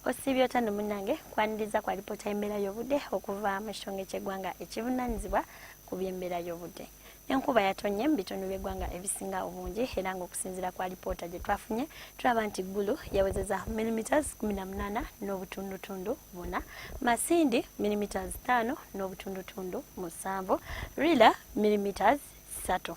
osiibye otya no munange kwaniriza kwa lipoota y'embeera y'obudde okuva mu kitongole ky'eggwanga ekivunanyizibwa ku by'embeera y'obudde enkuba yatonye mu bitundu by'eggwanga ebisinga obungi era ng'okusinziira kwa lipoota gye twafunye tulaba nti ggulu yawezeza millimeters 18 n'obutundutundu buna masindi millimeters 5 n'obutundutundu musanvu rila millimeters ssatu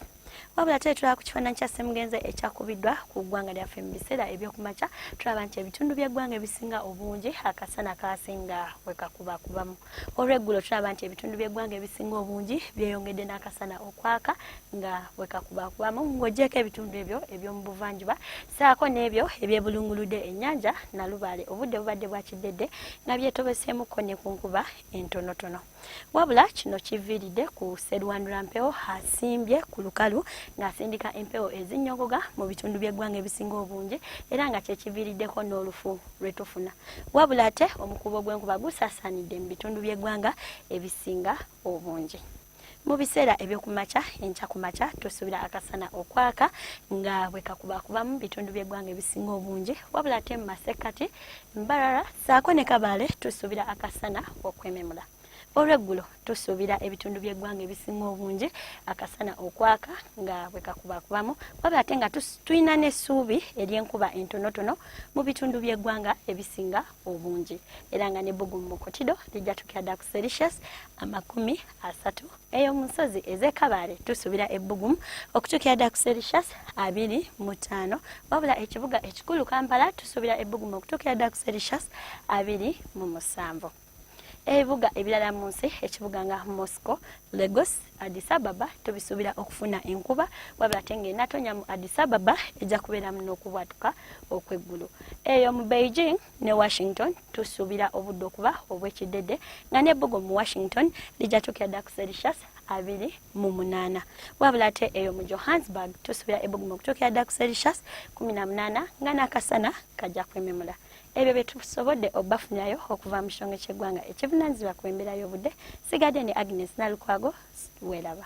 wabula tuli tulaba ku kifaananyi kya ssemugenze ekyakubiddwa ku ggwanga lyaffe mu biseera ebyokumakya tulaba nti ebitundu by'eggwanga ebisinga obungi akasana kaasinga we kakubakubamu olweggulo tulaba nti ebitundu by'eggwanga ebisinga obungi byeyongedde n'akasana okwaka nga we kakubakubamu ng'ogyeko ebitundu ebyo eby'omu buvanjuba saako n'ebyo ebyebulunguludde ennyanja nalubaale obudde bubadde bwakiddedde nga byetobeseemukko ne ku nkuba entonotono Wabula kino kiviiridde ku Sserwanura Mpewo asimbye ku lukalu ng'asindika empewo ezinnyogoga mu bitundu by'eggwanga ebisinga obungi era nga kye kiviiriddeko n'olufu lwe tufuna. Wabula ate omukuubo gw'enkuba gusaasaanidde mu bitundu by'eggwanga ebisinga obungi. Mu biseera eby'okumakya enkya ku makya tusuubira akasana okwaka nga bwe kakubakubamu bitundu by'eggwanga ebisinga obungi wabula ate mu masekkati Mbarara saako ne Kabale tusuubira akasana okwememula. Olweggulo tusuubira ebitundu by'eggwanga ebisinga obungi akasana okwaka nga bwe kakubakubamu wabula ate nga tulina n'essuubi ery'enkuba entonotono mu bitundu by'eggwanga ebisinga obungi era nga n'ebbugumu mu kotido lijja tukira ddala ku sericious amakumi asatu eyo mu nsozi ez'ekabaale tusuubira ebbugumu okutuukira ddala ku sericious abiri mu ttaano wabula ekibuga ekikulu kampala tusuubira ebbugumu okutuukira ddala ku sericious abiri mu musanvu ebibuga ebirala mu nsi ekibuga nga moscow lagos adisababa tubisuubira okufuna enkuba wabula ate ngaenatonya mu adisababa ejja kubeeramu n'okubwatuka okw'eggulu eyo mu beijing ne washington tusuubira obudde okuba obwekidede nga nebbugo mu washington lijatukira dda ku celsius abiri mu munaana wabula ate eyo mu johannesburg tusuubira ebbugumu okutuukira dda ku celsius kumi na munaana nga n'akasana kajja kwememula ebyo bye tusobodde obafunirayo okuva mu kitongole ky'eggwanga ekivunanyizibwa ku embeera y'obudde sigadde ne agnes nalukwago weeraba